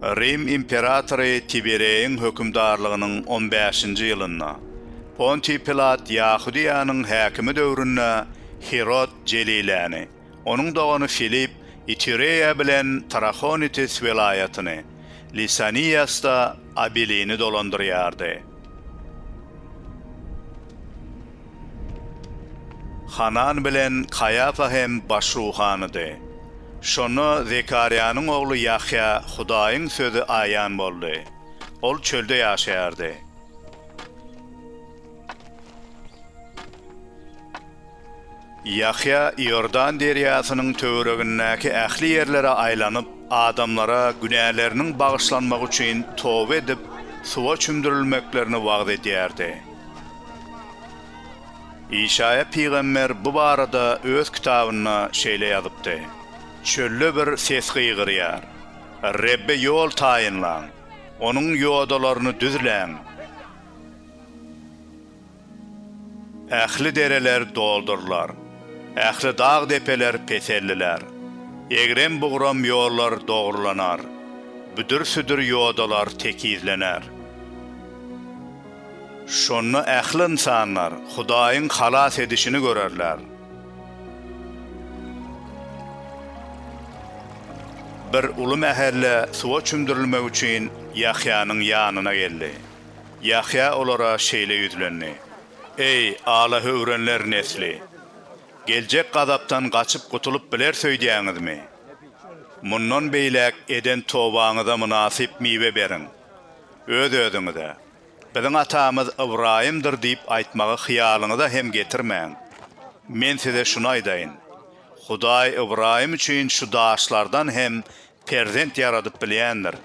Rim imperatory Tibereýiň hökümdarlygynyň on bäşinji ýylynda, Pontiý Pilat Ýahudyýanyň häkimi döwründe Hirod Jeliläni, Onuň dogany Filipp Itureýa bilen Trahonitis welaýatyny, Lisaniýasda Abilini dolandyrýardy. Hanan bilen Kaýafa hem baş ruhanydy. Şonda Zekarýanyň ogly Ýahýa Hudaýyň sözi aýan boldy. Ol çölde ýaşaýardy. Ýahýa Iordan derýasynyň töweregindäki ähli ýerlere aýlanyp, adamlara günäleriniň bagyşlanmagy üçin toba edip, suwa çümdürilmeklerini wagyz edýärdi. Işaýa pygamber bu barada öz kitabynda şeýle ýazypdy, Çölde bir ses gygyrýar, Rebbe ýol taýynlaň! Onuň ýodalaryny düzläň! Ähli dereler doldurylar. Ähli dag-depeler peselliler. Egrem-bugram ýollar dogrulanar. Büdür-südür ýodalar tekizlener. Şonda ähli ynsanlar Hudaýyň halas edişini görerler. Bir uly mähelle suwa çümdürilmek üçin Ýahýanyň ýanyna geldi. Ýahýa olara şeýle ýüzlendi, Eý, alahöwrenler nesli! Geljek gazapdan gaçyp gutulyp bileris öýdýäňizmi? Mundan beýläk eden tobaňyza mynasyp miwe beriň. Öz-özüňize, Biziň atamyz Ybraýymdyr diýip aýtmagy hyýalyňyza hem getirmäň. Men size şuny aýdaýyn, Hudaý Ybraýym üçin şu daşlardan hem Perzent ýaradyp bilýändir.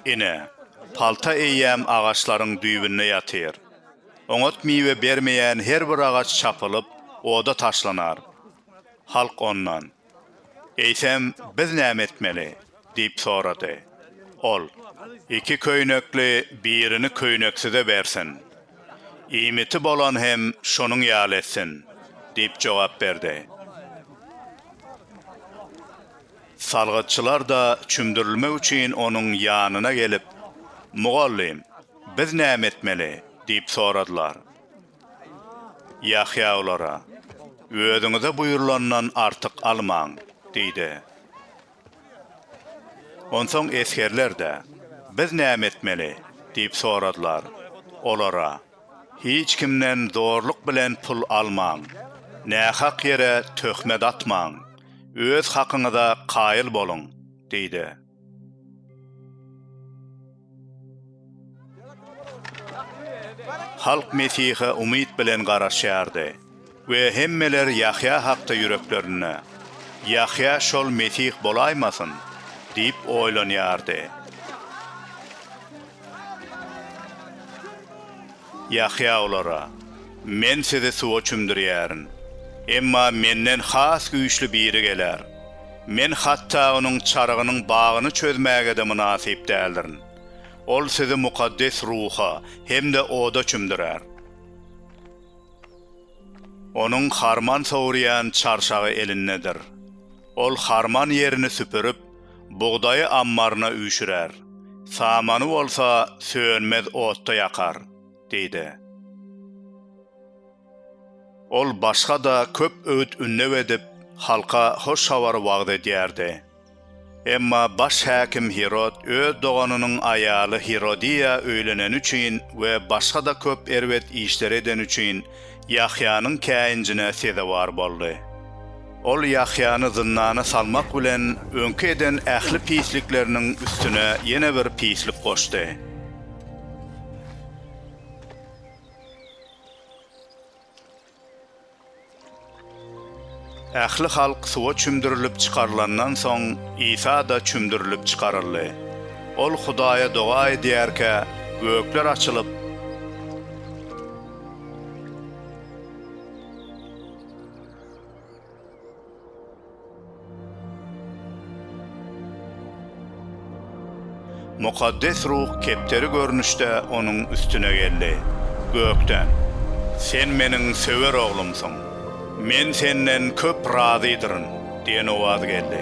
Ine, palta eýýäm agaçlaryň düýbünde ýatyr. Oňat miwe bermeýän her bir agaç çapylyp, oda taşlanar. Halk ondan, Eýsem, biz näme etmeli? diýip sorady. Ol, Iki köýnekli birini köýneksize bersin. Iýmiti bolan hem şonuň ýaly etsin, diýip jogap berdi. Salgytçylar-da çümdürilmek üçin onuň ýanyna gelip, Mugallym, biz näme etmeli? diýip soradylar. Ýahýa olara, Özüňize buýrulandan artyk almaň! diýdi. Onsoň esgerler-de, Biz näme etmeli? diýip soradylar. Olara. Hiç kimden zorluk bilen pul almaň. Nähak ýere töhmet atmaň. Öz hakyňyza kaýyl boluň, diýdi. Halk Mesihe umyt bilen garaşýardy. We hemmeler Ýahýa hakda ýüreklerinde, Ýahýa şol Mesih bolaýmasyn? diýip oýlanýardy. Ýahýa olara, Men sizi suwa çümdürýärin. Emma Menden has güýçli biri geler. Men hatda Onuň çarygynyň bagyny çözmäge-de mynasyp däldirin. Ol sizi Mukaddes Ruha hem-de oda çümdürer. Onuň harman sowurýan çarşagy elindedir. Ol harman ýerini süpürip, bugdaýy ammaryna üýşürär, samany bolsa sönmez otda ýakar, diýdi. Ol başga-da köp öwüt-ündew edip, halka hoş habary wagyz edýärdi. Emma baş häkim Hirod öz doganynyň aýaly Hirodiýa öýleneni üçin we başga-da köp erbet işleri edeni üçin Ýahýanyň käýinjine sezewar boldy. Ol Ýahýany zyndana salmak bilen, öňki eden ähli pislikleriniň üstüne ýene bir pislik goşdy. Ähli halk suwa çümdürilip çykarylandan soň, Isa-da çümdürilip çykaryldy. Ol Hudaýa doga edýärkä, gökler açylyp, Mukaddes Ruh kepderi görnüşde onuň üstüne geldi. Gökden, Sen Meniň söwer Oglumsyň. Men Senden köp razydyryn diýen owaz geldi.